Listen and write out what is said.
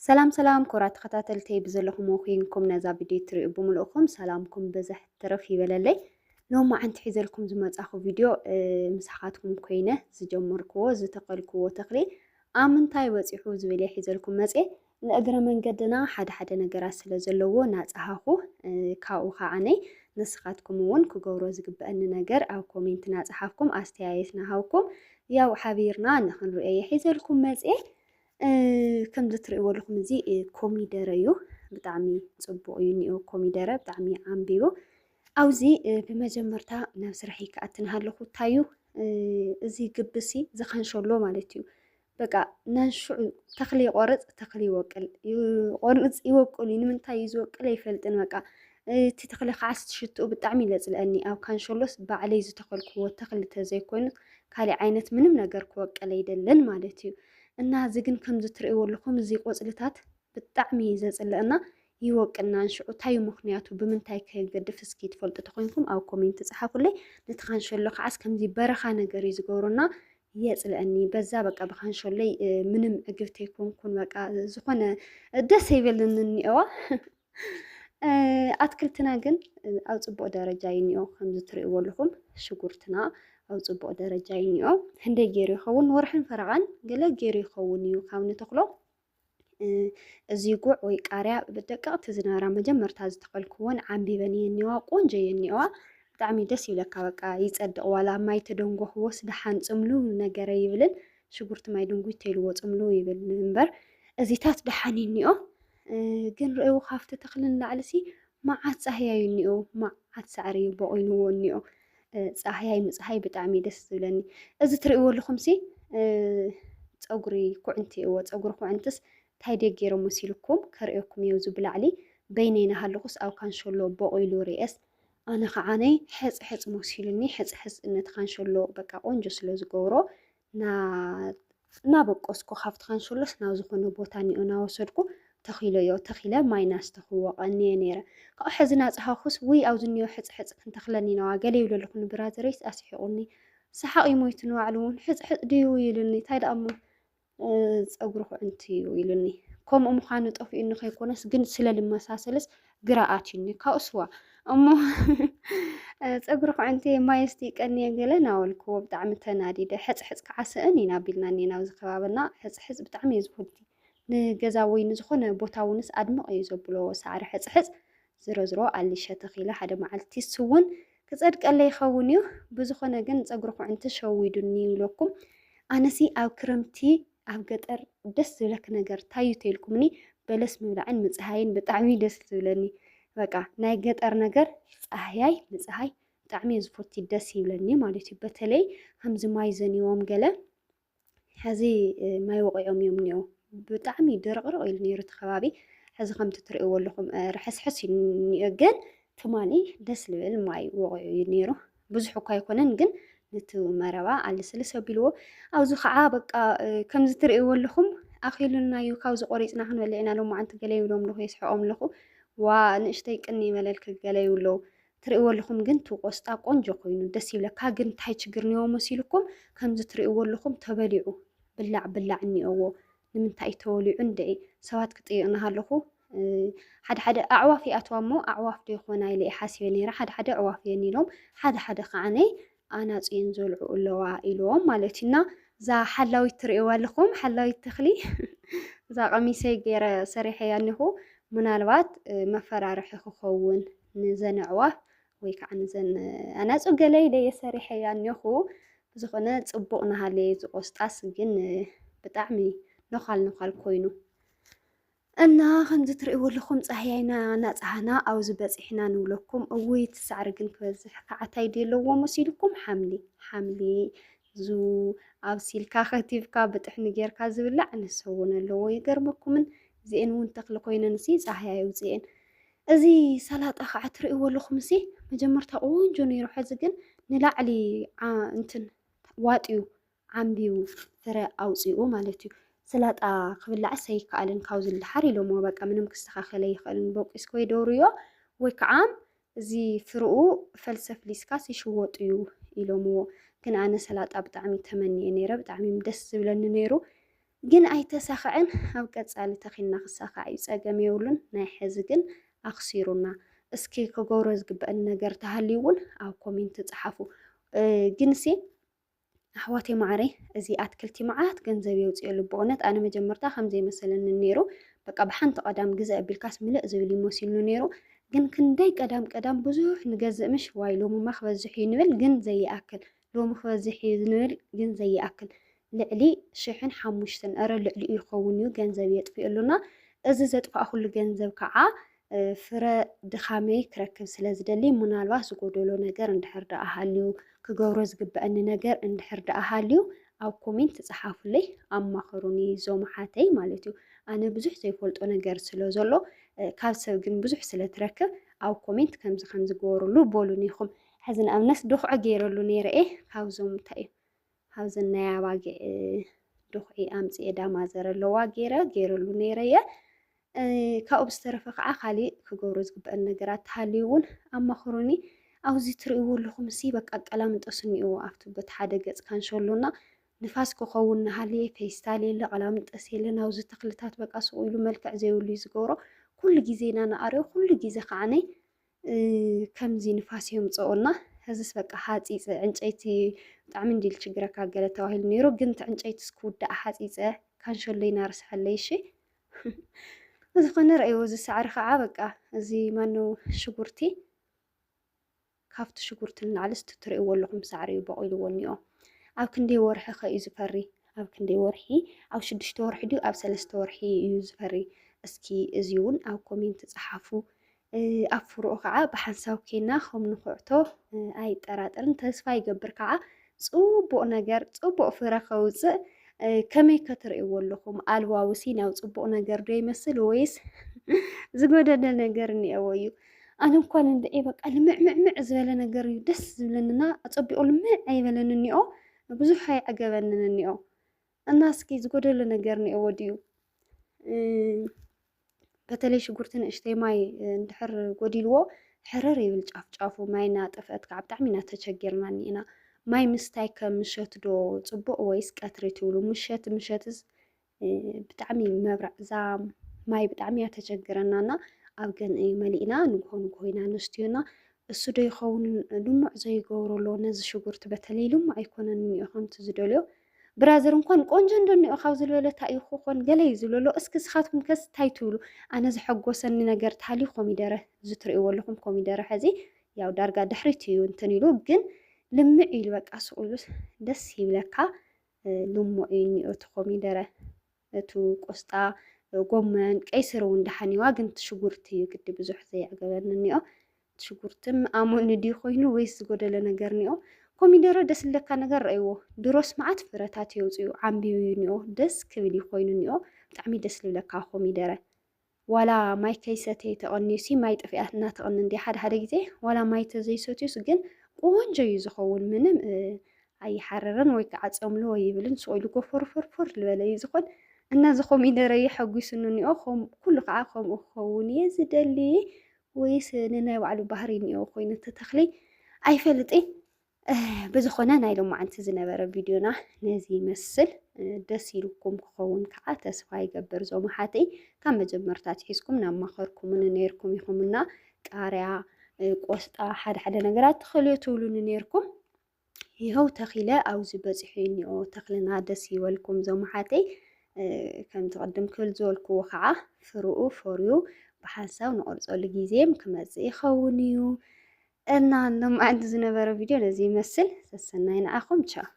ሰላም ሰላም ኮራ ተኸታተልተይ ብዘለኹም ኮይንኩም ነዛ ቪድዮ ትሪኡ ብምልእኹም ሰላምኩም ብዘሕ ትርፍ ይበለለይ ሎም መዓንቲ ሒዘልኩም ዝመፃኹ ቪድዮ ምሳኻትኩም ኮይነ ዝጀመርክዎ ዝተኸልክዎ ተኽሊ ኣብ ምንታይ በፂሑ ዝብል እየ ሒዘልኩም መፅየ ንእግረ መንገድና ሓደ ሓደ ነገራት ስለ ዘለዎ ናፀሃኹ ካብኡ ከዓነይ ንስኻትኩም እውን ክገብሮ ዝግበአኒ ነገር ኣብ ኮሜንት ናፀሓፍኩም ኣስተያየት ናሃውኩም ያው ሓቢርና ንክንሪኦ የሒዘልኩም መፅኤ ከምዚ ትርእይዎ ኣለኹም እዚ ኮሚደረ እዩ። ብጣዕሚ ጽቡቕ እዩ እኒኦ ኮሚደረ ብጣዕሚ ዓምቢቡ ኣብዚ ብመጀመርታ ናብ ስራሕይ ክኣቲ እናሃለኹ ታዩ እዚ ግብሲ ዝኸንሸሎ ማለት እዩ በቃ ናንሽዑ ተኽሊ ይቆርፅ ተኽሊ ይወቅል ይቆርፅ ይወቅሉ ንምንታይ እዩ ዝወቅል ኣይፈልጥን በቃ እቲ ተኽሊ ከዓስ ትሽትኡ ብጣዕሚ ይለፅለአኒ ኣብ ካንሸሎስ ባዕለይ ዝተኸልክዎ ተኽሊ ተዘይኮይኑ ካልእ ዓይነት ምንም ነገር ክወቅል ኣይደልን ማለት እዩ እና እዚ ግን ከምዚ ትርእይዎ ኣለኹም እዚ ቆጽልታት ብጣዕሚ እዩ ዘጽልእ እና ይወቅናን ሽዑ እንታይ እዩ ምኽንያቱ ብምንታይ ከ ይገድፍ እስኪ ትፈልጡ ተኾይንኩም ኣብ ኮሜንት ጸሓፉለይ ነቲ ካንሸሎ ከዓስ ከምዚ በረኻ ነገር እዩ ዝገብሮና የጽልአኒ በዛ በቃ ብካንሾለይ ምንም ዕግብቲ ኣይኮንኩን በቃ ዝኾነ ደስ ኣይበለንን እኒኦዋ ኣትክልትና ግን ኣብ ፅቡቅ ደረጃ እዩ እኒኦ ከምዚ ትሪእዎ ኣለኹም ሽጉርትና ኣብ ፅቡቅ ደረጃ እዩ እኒኦ ህንደይ ገይሩ ይኸውን ወርሕን ፈረቃን ገለ ገይሩ ይኸውን እዩ ካብ ንተኽሎ እዚ ጉዕ ወይ ቃርያ ብደቀቅቲ ዝነበራ መጀመርታ ዝተኸልክዎን ዓንቢበን እየ እኒዋ ቆንጆ እየ እኒዋ ብጣዕሚ ደስ ይብለካ በቃ ይፀድቅ ዋላ ማይ ተደንጎኽዎስ ደሓን ፅምሉ ነገረ ይብልን ሽጉርቲ ማይ ድንጉይ ተይልዎ ፅምሉ ይብል እምበር እዚታት ደሓን እዩ እኒኦ ግን ርእይዎ ካብቲ ተኽሊ ንላዕሊሲ መዓት ፃህያይ እዩ እኒኦ መዓት ሳዕሪ እዩ ቦቑይንዎ እኒኦ ፃህያይ ምፅሃይ ብጣዕሚ እዩ ደስ ዝብለኒ እዚ ትርእይዎ ኣለኹምሲ ፀጉሪ ኩዕንቲ እዎ ፀጉሪ ኩዕንትስ እንታይ ድየ ገይሮም መሲልኩም ከርእየኩም እየ እዚ ብላዕሊ በይነይ እናሃለኹስ ኣብ ካንሸሎ ቦቑይሉ ርኤስ ኣነ ከዓነይ ሕፅሕፅ መሲሉኒ ሕፅሕፅ ነቲ ካንሸሎ በቃ ቆንጆ ስለ ዝገብሮ እናበቆስኩ ካብቲ ካንሸሎስ ናብ ዝኾነ ቦታ እኒኦ እናወሰድኩ ተኺለዮ። ተኺለ ማይ እናስተኹዎ ቀንየ ነይረ። ካብኡ ሕዚ እናፀሃኹስ ውይ ኣብዚ እኒኦ ሕፅሕፅ ክንተኽለኒ ኢና ገለ ይብሎ ኣለኹ ንብራዘረይስ ኣስሒቑኒ። ሰሓቕ እዩ ሞይቱ ንባዕሉ እውን ሕፅሕፅ ድዩ ኢሉኒ። እንታይ ደኣ እሞ ፀጉሪ ኩዕንቲ እዩ ኢሉኒ። ከምኡ ምዃኑ ጠፊኡኒ ከይኮነስ ግን ስለ ልመሳሰልስ ግራ ኣትዩኒ ካብኡ ስዋ እሞ ፀጉሪ ኩዕንቲ ማይ እስቲ ይቀንየን ገለ ናበልክዎ ብጣዕሚ ተናዲደ ሕፅሕፅ ከዓ ስእን ኢና ኣቢልና እኒና ኣብዚ ከባብና ሕፅሕፅ ብጣዕሚ እዩ ዝፈቱ ንገዛ ወይ ንዝኾነ ቦታ እውንስ ኣድምቕ እዩ ዘብሎ ሳዕሪ ሕፅሕፅ ዝረዝሮ ኣሊሸ ተኺለ ሓደ መዓልቲ ስውን ክጸድቀለይ ይኸውን እዩ ብዝኾነ ግን ፀጉሪ ኩዕንቲ ሸዊዱኒ ይብለኩም ኣነሲ ኣብ ክረምቲ ኣብ ገጠር ደስ ዝብለክ ነገር ታዩ ተልኩምኒ በለስ ምብላዕን ምፅሃይን ብጣዕሚ ደስ ዝብለኒ በቃ ናይ ገጠር ነገር ፀሃያይ ምፅሃይ ብጣዕሚ ዝፎቲ ደስ ይብለኒ ማለት እዩ በተለይ ከምዚ ማይ ዘንዎም ገለ ሕዚ ማይ ወቂዖም እዮም እኒኦ ብጣዕሚ ድርቕርቕ ኢሉ ነይሩ እቲ ከባቢ ሕዚ ከምቲ ትሪእዎ ኣለኹም ርሕስሕስ እዩ እኒኦ ግን ትማሊ ደስ ዝብል ማይ ወቂዑ እዩ ነይሩ ብዙሕ እኳ ኣይኮነን ግን ነቲ መረባ ኣለስልስ ኣቢልዎ ኣብዚ ከዓ በቃ ከምዚ ትርእይዎ ኣለኹም ኣኺሉና እዩ ካብዚ ቆሪፅና ክንበልዕ ኢና ሎማዓንቲ ገለ ይብሎም ኣለኹ የስሕቆም ኣለኹ ዋ ንእሽተይ ቅኒ ይበለልክ ገለ ይብሉ ኣለዉ ትርእይዎ ኣለኹም ግን እቲ ቆስጣ ቆንጆ ኮይኑ ደስ ይብለካ ግን እንታይ ችግር እኒኦ መሲልኩም ከምዚ ትርእይዎ ኣለኹም ተበሊዑ ብላዕ ብላዕ እኒኦዎ ንምንታይ እዩ ተወሊዑ እንድዒ ሰባት ክጥይቕ ናሃለኹ ሓደ ሓደ ኣዕዋፍ ይኣትዋ እሞ ኣዕዋፍ ዶ ይኾና ኢለ ሓሲበ ነይረ ሓደ ሓደ ኣዕዋፍ እየን ኢሎም ሓደ ሓደ ከዓነ ኣናፁ እየን ዘልዑ ኣለዋ ኢሎም ማለት እዩ እና እዛ ሓላዊት ትርእይዋ ኣለኹም ሓላዊት ተኽሊ እዛ ቀሚሰይ ገይረ ሰሪሐያ እኒኹ ምናልባት መፈራርሒ ክኸውን ንዘን ኣዕዋፍ ወይ ከዓ ንዘን ኣናፁ ገለ ኢለ እየ ሰሪሐያ እኒኹ ብዝኾነ ፅቡቕ ናሃለየ ዝቆስጣስ ግን ብጣዕሚ ነዃል ነዃል ኮይኑ እና ከምዚ ትርእይዎ ኣለኹም ጻህያይና እናጸሃና ኣብዚ በጺሕና ንብለኩም። እውይ እቲ ሳዕሪ ግን ክበዝሕ ከዓታይ ድዩ ኣለዎ መሲልኩም? ሓምሊ ሓምሊ ዙ ኣብሲልካ ከቲፍካ ብጥሕኒ ጌርካ ዝብላዕ ንሱ እውን ኣለዎ። ይገርመኩምን እዚኤን እውን ተኽሊ ኮይነን ሲ ጻህያ የውፅኤን። እዚ ሰላጣ ከዓ ትርእይዎ ኣለኹም ሲ መጀመርታ ቆንጆ ነይሩ፣ ሕዚ ግን ንላዕሊ እንትን ዋጥዩ ዓምቢቡ ፍረ ኣውጺኡ ማለት እዩ። ስላጣ ክብላዕስ ኣይከኣልን ካብዚ ንደሓር ኢሎምዎ በቃ ምንም ክስተኻኸል ኣይኽእልን ቦቂስካ ወይ ደውርዮ ወይ ከዓ እዚ ፍርኡ ፈልሲ ኣፍሊስካስ ይሽወጥ እዩ ኢሎምዎ። ግን ኣነ ሰላጣ ብጣዕሚ ተመንየ ነይረ ብጣዕሚ ደስ ዝብለኒ ነይሩ ግን ኣይተሳኸዐን ኣብ ቀጻሊ ተኺልና ክሳኻዕ እዩ ጸገም የብሉን ናይ ሕዚ ግን ኣኽሲሩና። እስኪ ክገብሮ ዝግበአኒ ነገር ተሃልዩ እውን ኣብ ኮሜንት ጸሓፉ ግንሲ ኣሕዋተይ ማዓረይ እዚ ኣትክልቲ መዓት ገንዘብ የውፅኤሉ ብእውነት ኣነ መጀመርታ ከምዘይ መሰለኒ ነይሩ በቃ ብሓንቲ ቀዳም ግዘ ኣቢልካስ ምልእ ዝብል እዩ መሲልኒ ነይሩ ግን ክንደይ ቀዳም ቀዳም ብዙሕ ንገዝእ ምሽ ዋይ ሎምማ ክበዝሕ እዩ ንብል ግን ዘይኣክል ሎሚ ክበዝሕ እዩ ንብል ግን ዘይኣክል ልዕሊ ሽሕን ሓሙሽተን እረ ልዕሊኡ ይኸውን እዩ ገንዘብ የጥፍእሉና እዚ ዘጥፋእኩሉ ገንዘብ ከዓ ፍረ ድኻመይ ክረክብ ስለ ዝደሊ ምናልባት ዝጎደሎ ነገር እንድሕር ደኣ ሃልዩ ክገብሮ ዝግበአኒ ነገር እንድሕር ደኣ ሃልዩ ኣብ ኮሜንት ጸሓፉለይ ኣማኸሩኒ ዞም ሓተይ ማለት እዩ ኣነ ብዙሕ ዘይፈልጦ ነገር ስለ ዘሎ ካብ ሰብ ግን ብዙሕ ስለ ትረክብ ኣብ ኮሜንት ከምዚ ከምዚ ገበርሉ በሉኒ ኢኹም ሕዚ ንኣብነት ዶኽዖ ገይረሉ ነይረ እየ ካብዞም እንታይ እዩ ኣብዘን ናይ ኣባጊዕ ድኹዒ ኣምጺኤ ዳማ ዘረለዋ ገይረ ገይረሉ ነይረ እየ። ካብኡ ብዝተረፈ ከዓ ካሊእ ክገብሮ ዝግበአን ነገራት ተሃልዩ እውን ኣማኽሩኒ። ኣብዚ ትርእይዎ ኣለኹም ሲ በቃ ቀላምንጦስ እኒኦ ኣብቲ በቲ ሓደ ገፅ ካንሸሎና ንፋስ ክኸውን ንሃልየ ፌስታል የለ ቀላምንጠስ የለ ናብዚ ተኽልታት በቃ ስቑ ኢሉ መልክዕ ዘይብሉ እዩ ዝገብሮ። ኩሉ ግዜ ኢና ንኣርዮ ኩሉ ግዜ ከዓ ከምዚ ንፋስ የምፀኦና እዚስ በቃ ሓፂፀ ዕንጨይቲ ብጣዕሚ እንዲል ችግረካ ገለ ተባሂሉ ነይሩ ግን እቲ ዕንጨይትስ ክውዳእ ሓፂፀ ካንሸሎይ ናርስሐለይ እሺ ዝኾነ ረእይዎ እዚ ሳዕሪ ከዓ በቃ እዚ ማነው ሽጉርቲ ካብቲ ሽጉርቲ ንላዕሊ እስቲ ትርእይዎ ኣለኹም ሳዕሪ እዩ በቂልዎ እኒኦ ኣብ ክንደይ ወርሒ ከ እዩ ዝፈሪ ኣብ ክንደይ ወርሒ ኣብ ሽዱሽተ ወርሒ ድዩ ኣብ ሰለስተ ወርሒ እዩ ዝፈሪ እስኪ እዚ እውን ኣብ ኮሜንት ፀሓፉ ኣብ ፍርኡ ከኣ ብሓንሳብ ኴንና ኸም ንኹዕቶ ኣይጠራጠርን። ተስፋ ይገብር ከኣ ጽቡቕ ነገር፣ ጽቡቕ ፍረ ከውጽእ። ከመይ ከ ትርእይዎ ኣለኹም? ኣልዋው ሲናው ጽቡቕ ነገር ዶ ይመስል ወይስ ዝጎደለ ነገር እኒኤዎ እዩ? ኣነ እንኳን እንድዒ በቃ ልምዕምዕምዕ ዝበለ ነገር እዩ ደስ ዝብለንና ኣጸቢቑ ልምዕ ኣይበለን እኒኦ ብዙሕ ኣይዕገበንን እኒኦ እና እስኪ ዝጎደሎ ነገር እኒኦዎ ድዩ? በተለይ ሽጉርቲ ንእሽተይ ማይ እንድሕር ጎዲልዎ ሕርር ይብል ጫፍ ጫፉ ማይ እናጠፍአት ከዓ ብጣዕሚ ኢና ተቸጊርና እኒአና። ማይ ምስታይ ከ ምሸት ዶ ፅቡቅ ወይስ ቀትሪ ትብሉ? ምሸት ምሸትስ ብጣዕሚ መብራዕ እዛ ማይ ብጣዕሚ እያ ተቸግረና እና ኣብ ገን መሊእና ንግሆ ንግሆ ኢና ንስትዮ እና እሱ ዶ ይኸውን ልሙዕ ዘይገብሮ ኣሎ ነዚ ሽጉርቲ በተለይ ልሙዕ ኣይኮነን እኒኦ ከምቲ ዝደልዮ ብራዘር እንኳን ቆንጆ እንደኒኦ ካብ ዝበለ እንታይ እዩ ክኾን ገለ እዩ ዝብሎ ኣሎ እስኪ ንስኻትኩም ከስ እንታይ ትብሉ ኣነ ዘሐጎሰኒ ነገር ተሃልዩ ኮሚደረ እዚ ትርእይዎ ኣለኹም ኮሚደረ ሕዚ ያው ዳርጋ ድሕሪት እዩ እንትን ኢሉ ግን ልምዕ ኢሉ በቃ ስቑ ኢሉስ ደስ ይብለካ ልሙዕ እዩ እኒኦ እቲ ኮሚደረ እቱ ቆስጣ ጎመን ቀይስር እውን ደሓን እዩዋ ግን እቲ ሽጉርቲ እዩ ግዲ ብዙሕ ዘየዕገበኒ እኒኦ እቲ ሽጉርቲ ኣሞኒ ድዩ ኮይኑ ወይስ ዝጎደለ ነገር እኒኦ ኮሚደረ ደስ ዝለካ ነገር ረእይዎ ድሮስ መዓት ፍረታት የውፅኡ ዓምቢቡ እዩ እኒኦ ደስ ክብል እዩ ኮይኑ እኒኦ ብጣዕሚ ደስ ዝብለካ ኮሚደረ ዋላ ማይ ከይሰተዩ ተቐንዩሲ ማይ ጥፊኣትና ትቕኒ እንዲ ሓደ ሓደ ግዜ ዋላ ማይ ተዘይሰትዩስ ግን ቆንጆ እዩ ዝኸውን ምንም ኣይሓርርን ወይ ከዓ ፀምልዎ ይብልን ስቑኢሉ ጎፈርፈርፈር ዝበለ እዩ ዝኾን እና እዚ ኮሚደረ የሐጒሱኒ እኒኦ ኩሉ ከዓ ከምኡ ክኸውን እየ ዝደሊ ወይስ ንናይ ባዕሉ ባህሪ እኒኦ ኮይኑ ተተኽሊ ኣይፈልጥን ብዝኾነ ናይ ሎማዓንቲ ዝነበረ ቪድዮና ነዚ ይመስል ደስ ኢልኩም ክኸውን ከዓ ተስፋ ይገብር ዞም ኣሓተይ ካብ መጀመርታ ኣትሒዝኩም ናብ ማኸርኩምኒ ነይርኩም ኢኹምና ቃርያ ቆስጣ ሓደ ሓደ ነገራት ተኸልዮ ትብሉኒ ነይርኩም ይኸው ተኺለ ኣብዚ በፂሑ እኒኦ ተኽልና ደስ ይበልኩም ዞም ኣሓተይ ከምቲ ቅድም ክብል ዝበልክዎ ከዓ ፍርኡ ፈርዩ ብሓንሳብ ንቆርፀሉ ግዜም ክመፅእ ይኸውን እዩ እና ሎማዕንቲ ዝነበረ ቪድዮ ነዚ ይመስል ሰሰናይ ንዓኹም ቻው።